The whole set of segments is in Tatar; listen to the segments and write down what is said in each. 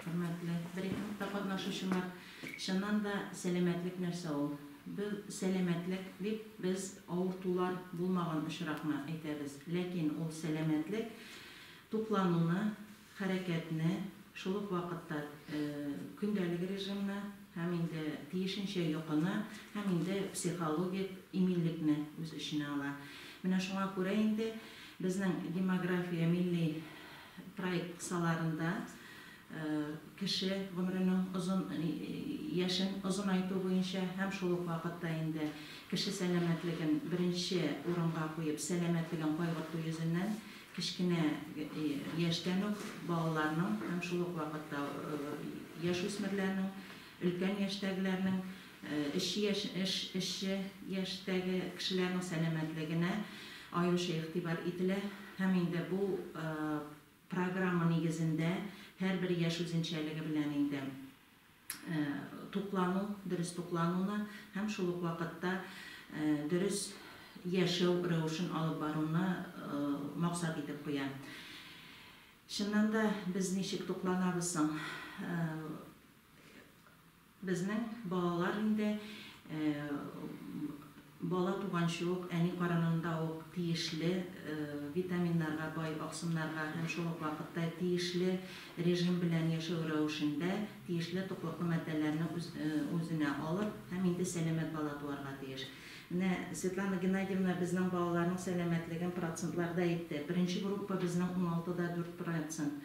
Хөрмәтле брифингта катнашучылар! Чыннан да, сәламәтлек нәрсә ул? Без сәламәтлек дип, без авыртулар булмаган очракны әйтәбез. Ләкин ул сәламәтлек, туклануны, хәрәкәтне, шул ук вакытта көндәлек режимны һәм инде тиешенчә йокыны һәм инде психологик иминлекне үз эченә ала. Менә шуңа күрә инде безнең демография милли Проект кысаларында кеше гомеренең озын яшен озынайту буенча һәм шул ук вакытта инде кеше сәламәтлеген беренче урынга куеп, сәламәтлеген кайгырту йөзеннән кечкенә яшьтән үк балаларның һәм шул ук вакытта яшүсмерләрнең, өлкән яшьтәгеләрнең Эшче яшь, эш, эшче яшьтәге кешеләрнең сәламәтлегенә аеруча игътибар ителә һәм инде бу программа нигезендә һәрбер яшь үзенчәлеге белән инде туклану, дөрес туклануны һәм шул ук вакытта дөрес яшәү рәвешен алып баруны максат итеп куя. Чыннан да, без ничек тукланабыз соң? Безнең балалар инде бала туганчы ук, әни карынында ук тиешле витаминнарга бай, аксымнарга һәм шул ук вакытта тиешле режим белән яшәү рәвешендә тиешле туклыклы матдәләрне үзенә алып һәм инде сәламәт бала туарга тиеш. Менә Светлана Геннадьевна безнең балаларның сәламәтлеген процентларда әйтте. Беренче группа безнең уналты да дүрт процент.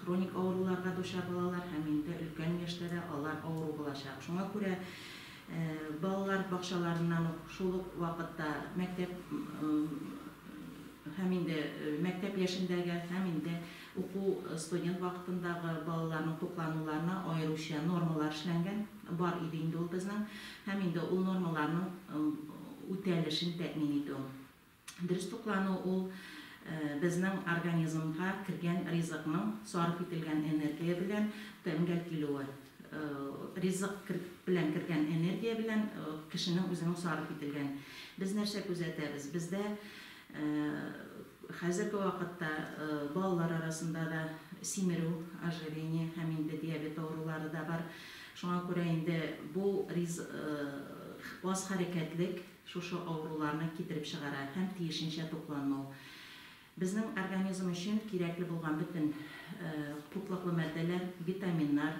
Хроник авыруларга дучар балалар һәм инде өлкән яшьтә дә алар авыру булачак. Шуңа күрә балалар бакчаларыннан ук, шул ук вакытта мәктәп һәм инде мәктәп яшендәге һәм инде уку студент вакытындагы балаларның туклануларына аеруча нормалар эшләнгән, бар иде инде ул безнең, һәм инде ул нормаларның үтәлешен тәэмин итү. Дөрес туклану ул, безнең организмга кергән ризыкның сарыф ителгән энергия белән тәңгәл килүе. Ризык белән кергән энергия белән кешенең үзенең сарыф ителгән. Без нәрсә күзәтәбез? Бездә хәзерге вакытта балалар арасында да симерү, ожирение һәм инде диабет авырулары да бар. Шуңа күрә инде бу аз хәрәкәтлек, шушы авыруларны китереп чыгара һәм тиешенчә тукланмау, безнең организм өчен кирәкле булган бөтен туклыклы матдәләр, витаминнар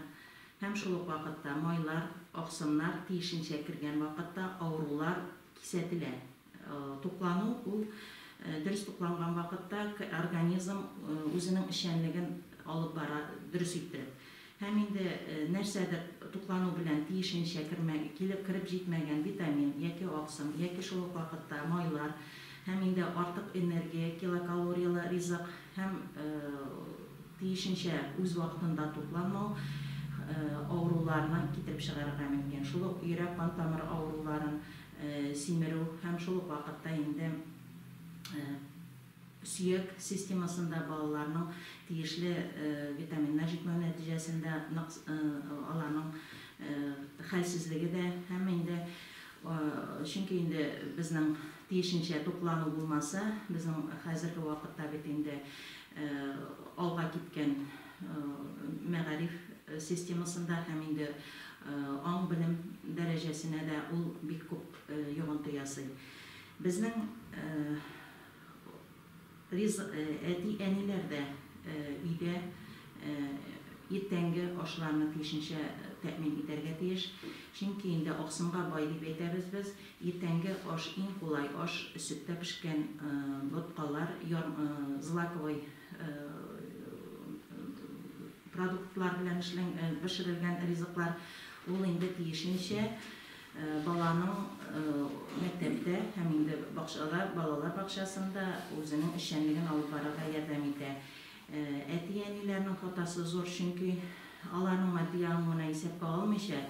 һәм шул ук вакытта майлар, аксымнар тиешенчә кергән вакытта авырулар кисәтелә. Туклану, ул дөрес тукланган вакытта организм үзенең эшчәнлеген алып бара дөрес иттереп. Һәм инде нәрсәдер туклану белән тиешенчә кереп җитмәгән витамин яки аксым, яки шул ук вакытта майлар һәм инде артык энергия, килокалорияле ризык һәм тиешенчә үз вакытында тукланмау авыруларны китереп чыгарырга мөмкин. Шул ук йөрәк-кан тамыры авыруларын, симерү һәм шул ук вакытта инде. Сөяк системасында балаларның тиешле витаминнар җитмәү нәтиҗәсендә ныкс аларның хәлсезлеге дә һәм инде чөнки инде безнең тиешенчә туклану булмаса, безнең хәзерге вакытта бит инде алга киткән мәгариф системасында һәм инде аң-белем дәрәҗәсенә дә ул бик күп йогынты ясый. Безнең Ризык әти-әниләр дә өйдә иртәнге ашларны тиешенчә тәэмин итәргә тиеш. Чөнки инде аксымга бай дип әйтәбез без. Иртәнге аш, иң кулай аш, сөттә пешкән боткалар, злаковый продуктлар белән пешерелгән ризыклар, ул инде тиешенчә. Баланың мәктәптә һәм инде бакчада, балалар бакчасында үзенең эшчәнлеген алып барырга ярдәм итә. Әти-әниләрнең фотосы зур, чөнки аларның матди ягын гына исәпкә алмыйча,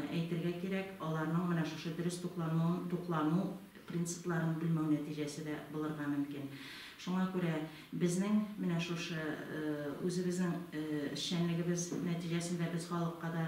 әйтергә кирәк, аларның менә шушы дөрес туклануын, туклану принципларын белмәү нәтиҗәсе дә булырга мөмкин. Шуңа күрә безнең менә шушы үзебезнең эшчәнлегебез нәтиҗәсендә без халыкка да,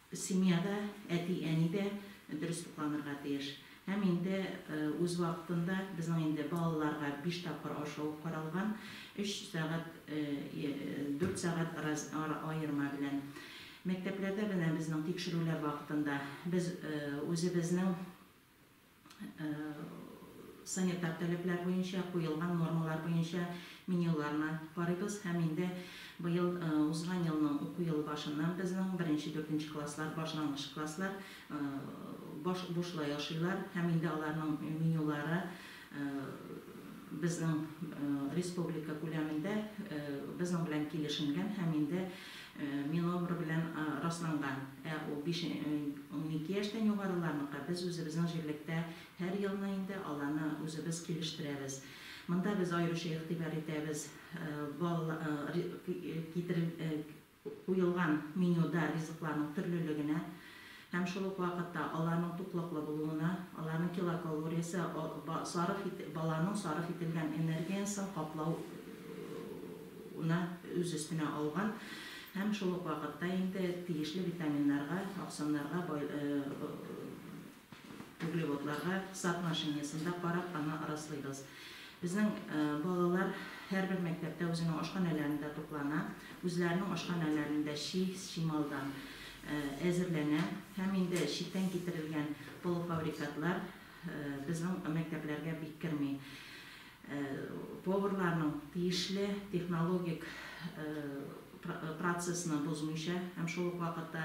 Семьяда әти-әни дә дөрес тукланырга тиеш. Һәм инде үз вакытында, безнең инде балаларга биш тапкыр ашау каралган, өч сәгать, дүрт сәгать ара аерма белән. Мәктәпләрдә менә безнең тикшерүләр вакытында без үзебезнең санитар таләпләр буенча, куелган нормалар буенча менюларны карыйбыз һәм инде быел, узган елның уку елы башыннан безнең беренче, дүртенче класслар, башлангыч класслар бушлай ашыйлар һәм инде аларның менюлары Безнең республика күләмендә безнең белән килешенгән һәм инде МИНОБР белән расланган. Ә ул биш, унике яшьтән югарыларныкы без үзебезнең җирлектә һәр елны инде аларны үзебез килештерәбез. Монда без аеруча игътибар итәбез, балалар, китерел, куелган менюда ризыкларның төрлелегенә һәм шул ук вакытта аларның туклыклы булуына, аларның килокалориясе, сарыф ит, баланың сарыф ителгән энергиясен каплау уны үз өстенә алган һәм шул ук вакытта инде тиешле витаминнарга, аксымнарга бай, Углеводларга соотношениесында карап аны раслыйбыз. Безнең балалар һәрбер мәктәптә үзенең ашханәләрендә туклана, үзләренең ашханәләрендә чи, чималдан әзерләнә һәм инде читтән китерелгән полуфабрикатлар безнең мәктәпләргә бик керми. поварларның тиешле технологик процессны бозмыйча һәм шул ук вакытта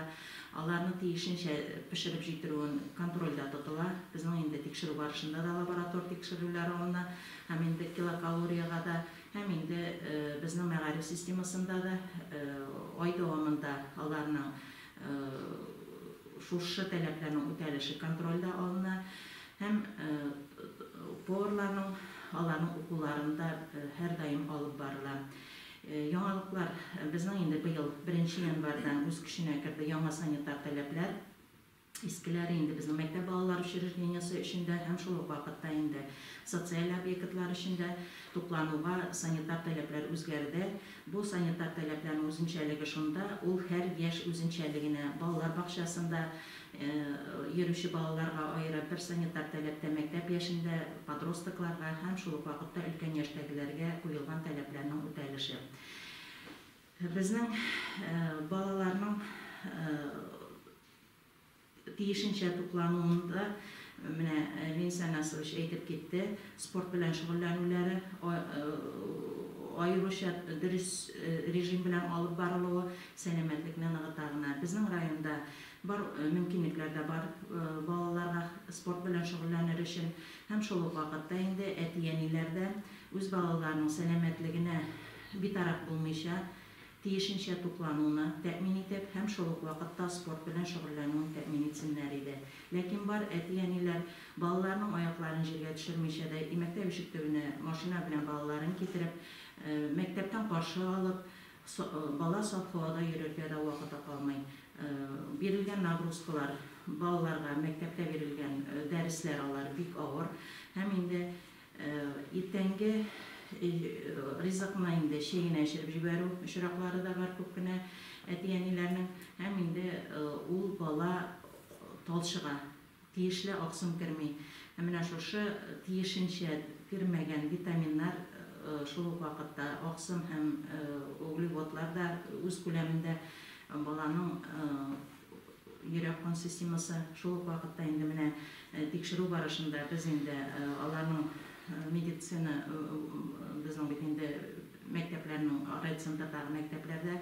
аларны тиешенчә пешереп җитерүен контрольдә тотыла. Безнең инде тикшерү барышында да лаборатор тикшерүләре алына һәм инде килокалориягә дә, һәм инде безнең мәгариф системасында да ай дәвамында аларның шушы таләпләрнең үтәлеше контрольдә алына. Һәм поварларның аларның укуларын да һәрдаим алып барыла. Яңалыклар, безнең инде быел беренче январьдан үз көченә керде яңа санитар таләпләр. Искеләре инде безнең мәктәп балалар учреждениесе өчен дә һәм шул ук вакытта инде социаль объектлар өчен дә туклануга санитар таләпләр үзгәрде. Бу санитар таләпләрнең үзенчәлеге шунда, ул һәр яшь үзенчәлегенә, балалар бакчасында йөрүче балаларга аерым бер санитар таләптә мәктәп яшендә подростокларга һәм шул ук вакытта өлкән яшьтәгеләргә куелган таләпләрнең үтәлеше. Безнең балаларның тиешенчә туклануын да менә Ленис Анасович әйтеп китте, спорт белән шөгыльләнүләре аеруча дөрес режим белән алып барылуы сәламәтлекне ныгыта гына. Безнең районда Бар мөмкинлекләр дә бар балаларга спорт белән шөгыльләнер өчен. Һәм шул ук вакытта инде әти-әниләр дә үз балаларының сәламәтлегенә битараф булмыйча, тиешенчә туклануны тәэмин итеп һәм шул ук вакытта спорт белән шөгыльләнүен тәэмин итсеннәр иде. Ләкин бар әти-әниләр балаларының аякларын җиргә төшермичә дә, мәктәп ишек төбенә машина белән балаларын китереп, мәктәптән каршы алып, Бала саф һавада йөрергә дә вакыты калмый. Бирелгән нагрузкалар, балаларга мәктәптә бирелгән дәресләр алар бик авыр. Һәм инде иртәнге ризыкны инде чәй генә эчереп җибәрү очраклары да бар күп кенә әти-әниләрнең. Һәм инде ул бала талчыга. Тиешле аксым керми. Ә менә шушы тиешенчә кермәгән витаминнар, шул ук вакытта аксым һәм углеводлар да үз күләмендә баланың йөрәк-кан системасы, шул ук вакытта инде менә тикшерү барышында без инде аларның медицина, безнең бит инде мәктәпләрнең райцентрдагы мәктәпләрдә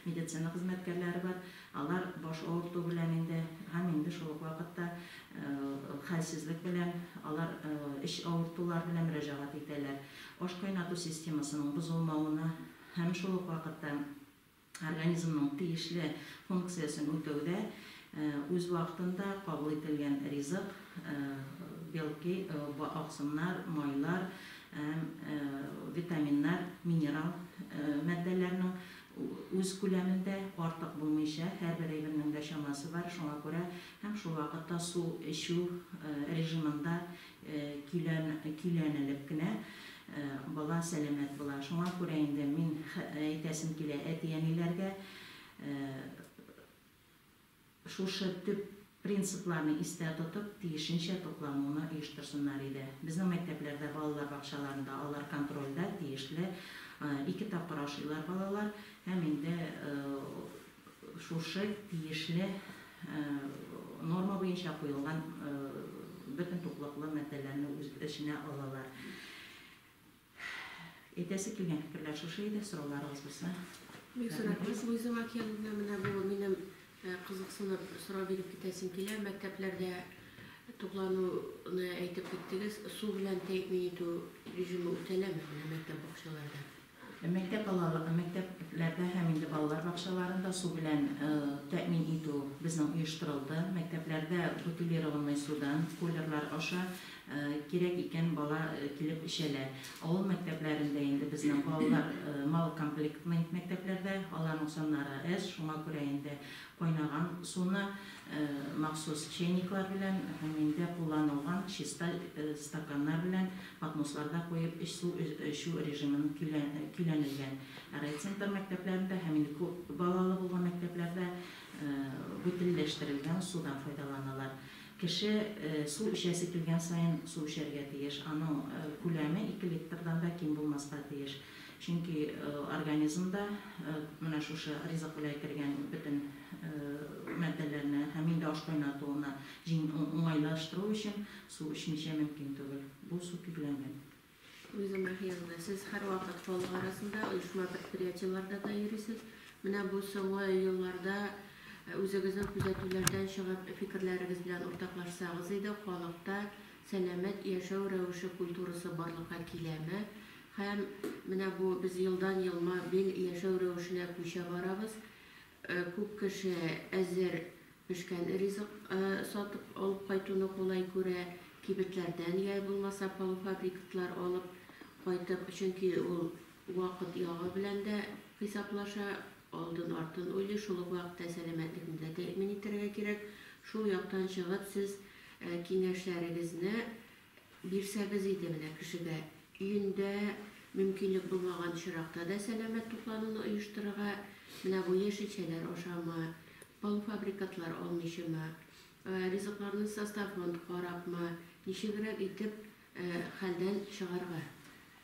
медицина хезмәткәрләре бар. Алар баш авырту белән инде һәм инде шул ук вакытта хәлсезлек белән, алар эч авыртулар белән мөрәҗәгать итәләр. Аш кайнату системасының бозылмавына һәм шул ук вакытта организмның тиешле функциясен үтәүдә үз вакытында кабул ителгән ризык, белки, аксымнар, майлар һәм витаминнар, минерал матдәләрнең үз күләмендә, артык булмыйча, һәрбер әйбернең дә чамасы бар, шуңа күрә һәм шул вакытта су эчү режимында көйлән, көйләнелеп кенә бала сәламәт була. Шуңа күрә инде мин әйтәсем килә әти-әниләргә, Шушы төп принципларны истә тотып, тиешенчә туклануны оештырсыннар иде. Безнең мәктәпләрдә, балалар бакчаларында алар контрольдә тиешле ике тапкыр ашыйлар балалар һәм инде шушы тиешле норма буенча куелган бөтен туклыклы матдәләрне үз эченә алалар. Әйтәсе килгән фикерләр шушы иде, сорауларыгыз булса. Бик зур рәхмәт, Луиза Макеновна, менә бу минем кызыксынып сорау биреп китәсем килә, мәктәпләрдә туклануны әйтеп киттегез, су белән тәэмин итү режимы үтәләме менә мәктәп бакчаларда? Мәктәп балала, мәктәпләрдә һәм инде балалар бакчаларында су белән тәэмин итү безнең оештырылды. Мәктәпләрдә бутилированный судан, кулерлар аша Кирәк икән, бала килеп эчәлә. Авыл мәктәпләрендә инде безнең балалар малокомплектный мәктәпләрдә, аларның саннары әз, шуңа күрә инде кайнаган суны махсус чәйниклар белән һәм инде кулланылган чиста стаканнар белән подносларда куеп эчсу эчү режимын көйләнелгән. Ә райцентр мәктәпләрендә һәм инде күп балалы булган мәктәпләрдә бөтенләштерелгән судан файдаланалар. Кеше су эчәсе килгән саен су эчәргә тиеш. Аның күләме ике литрдан да ким булмаска тиеш. Чөнки организмда менә шушы ризык белән кергән бөтен матдәләрне һәм инде аш кайнатуына уңайлаштыру өчен су эчмичә мөмкин түгел. Бу су көйләнген. Үземә хыялны. Сез һәрвакыт халык арасында, оешма-предприятиеларда да йөрисез. Менә бу соңгы елларда үзегезнең күзәтүләрдән чыгып, фикерләрегез белән уртаклашсагыз иде, халыкта сәламәт яшәү рәвеше культурасы барлыкка киләме? Һәм менә бу без елдан-ел мобиль яшәү рәвешенә күчә барабыз. Күп кеше әзер пешкән ризык сатып алып кайтуны кулай күрә, кибетләрдән яи булмаса полуфабрикатлар алып кайтып, чөнки ул вакыт ягы белән дә хисаплаша, алдын-артын уйлый, шул ук вакытта сәламәтлекне дә тәэмин итәргә кирәк. Шул яктан чыгып, сез киңәшләрегезне Бирсәгез иде менә кешегә, өендә мөмкинлек булмаган очракта да сәламәт туклануны оештырырга, менә бу яшелчәләр ашамы, полуфабрикатлар алмыйчымы, ризыкларны составын карапмы, ничегрәк итеп хәлдән чыгарга.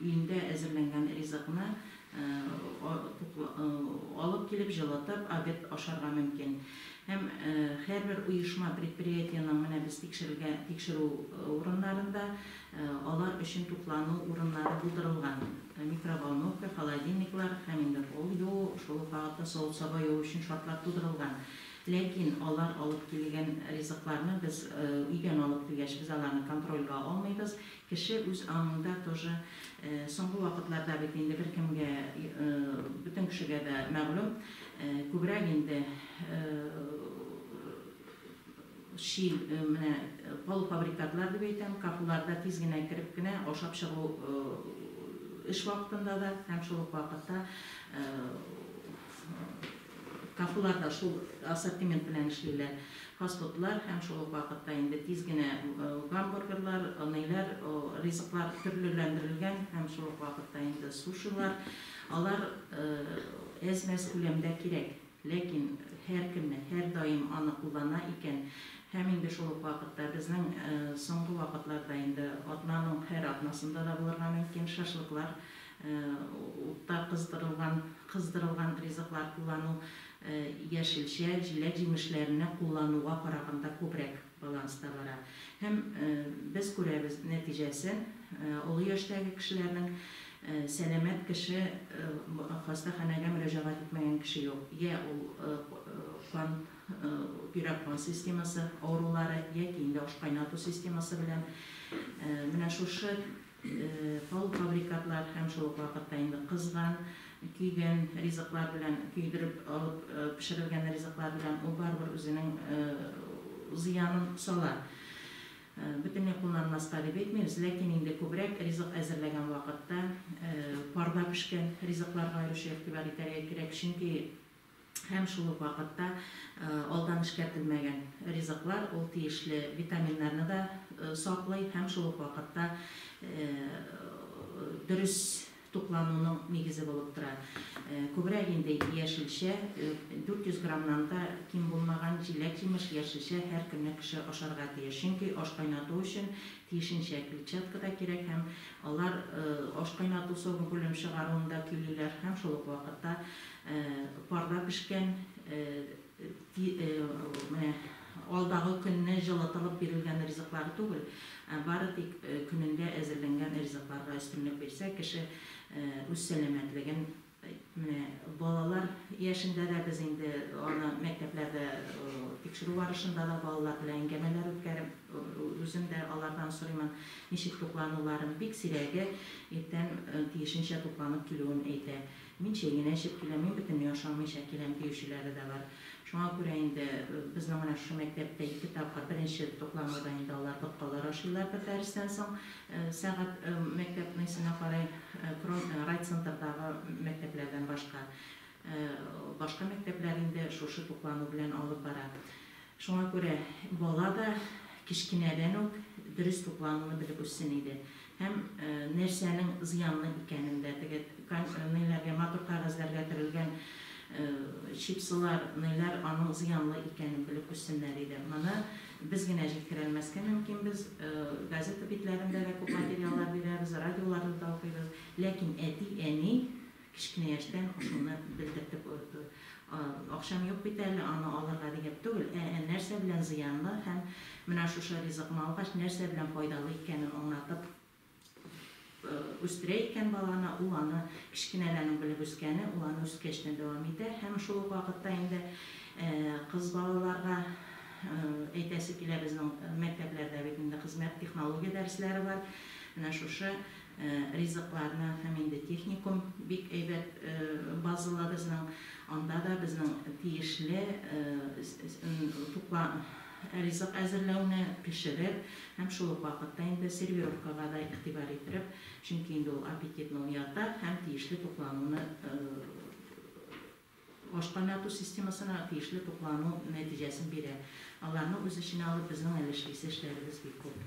Өендә әзерләнгән ризыкны алып килеп, җылытып, обед ашарга мөмкин. Һәм һәрбер оешма, предприятиенең менә без тикшерелгә тикшерү урыннарында алар өчен туклану урыннары булдырылган. Микроволновка, холодильниклар һәм инде кул юу, шул ук вакытта савыт-саба юу өчен шартлар тудырылган. Ләкин алар алып килгән ризыкларны без өйдән алып килгәч, без аларны контрольгә алмыйбыз. Кеше үз аңында тоже соңгы вакытларда бит инде беркемгә бөтен кешегә дә мәгълүм күбрәк инде чи менә полуфабрикатлар дип әйтәм кафуларда тиз генә кереп кенә ашап чыгу эш вакытында да һәм шул ук вакытта Кафелар да шул ассортимент белән эшлиләр. Фастфудлар һәм шул ук вакытта инде тиз генә гамбургерлар, ниләр, ризыклар төрлеләндерелгән һәм шул ук вакытта инде сушилар. Алар әз-мәз күләмдә кирәк, ләкин һәркемне, һәрдаим аны куллана икән һәм инде шул ук вакытта безнең соңгы вакытларда инде атнаның һәр атнасында да булырга мөмкин шашлыклар Утта кыздырылган, кыздырылган ризыклар куллану яшелчә, җиләк-җимешләрне куллануга караганда күбрәк баланста бара. Һәм без күрәбез нәтиҗәсен, олы яшьтәге кешеләрнең, сәламәт кеше, хастаханәгә мөрәҗәгать итмәгән кеше юк. Йә ул кан, йөрәк-кан системасы авырулары, яки инде ашкайнату системасы белән. Менә шушы Полуфабрикатлар һәм шул ук вакытта инде кызган, көйгән ризыклар белән, көйдереп алып пешерелгән ризыклар белән ул барыбер үзенең зыянын сала. Бөтенләй кулланмаска дип әйтмибез, ләкин инде күбрәк ризык әзерләгән вакытта парда пешкән ризыкларга аеруча игътибар итәргә кирәк, чөнки Һәм шул ук вакытта алдан эшкәртелмәгән ризыклар ул тиешле витаминнарны да саклый һәм шул ук вакытта дөрес туклануның нигезе булып тора. Күбрәк инде яшелчә, 400 граммнан да ким булмаган җиләк-җимеш, яшелчә һәр көнне кеше ашарга тиеш. Чөнки аш кайнату өчен тиешенчә клетчатка да кирәк һәм алар аш кайнату, согым-күлем чыгаруында көйлиләр һәм шул ук вакытта Парда пешкән, менә алдагы көнне җылытылып бирелгән ризыклар түгел, ә бары тик көнендә әзерләнгән ризыкларга өстенлек бирсә, кеше үз сәламәтлеген, менә балалар яшендә дә без инде аны мәктәпләрдә тикшерү барышында да балалар белән әңгәмәләр үткәреп, үзем дә алардан сорыймын, ничек туклануларын, бик сирәге иртән тиешенчә тукланып килүен әйтә. Мин чәй генә эчеп киләм, мин бөтенләй ашамыйча киләм, диючеләре дә бар. Шуңа күрә инде безнең менә шушы мәктәптә ике тапкыр, беренче туклануда инде алар боткалар ашыйлар бер дәрестән соң сәгать мәктәпнесенә карай, кром райцентрдагы мәктәпләрдән башка. Башка мәктәпләр инде шушы туклану белән алып бара. Шуңа күрә бала да кечкенәдән үк дөрес туклануны белеп үссен иде. Һәм нәрсәнең зыянлы икәнен дә, теге кан ниләргә, матур кәгазьләргә төрелгән чипсылар, ниләр аның зыянлы икәнен белеп үссеннәр иде. Моны без генә җиткерәлмәскә мөмкин, без газета битләрендә дә күп материаллар бирәбез, радиоларда да укыйбыз, ләкин әти, әни Кечкенә яшьтән шуны белдертеп үтү. Акчам юк бит әле, аны алырга дигән түгел, ә нәрсә белән зыянлы һәм менә шушы ризыкны алгач, нәрсә белән файдалы икәнен аңлатып үстерә икән баланы, ул аны кечкенәдән үк белеп үскәне, ул аны үскәч тә дәвам итә. Һәм шул ук вакытта инде кыз балаларга әйтәсе килә, безнең мәктәпләрдә бит инде хезмәт, технология дәресләре бар. Менә шушы ризыкларны һәм инде техникум бик әйбәт базалы безнең, анда да безнең тиешле тукла ризык әзерләүне, пешереп һәм шул ук вакытта инде сервировкага да игътибар иттереп, чөнки инде ул аппетитны уята һәм тиешле туклануны аш кайнату системасына тиешле туклану нәтиҗәсен бирә. Аларны үз эченә алып безнең әле эшлисе эшләребез бик күп.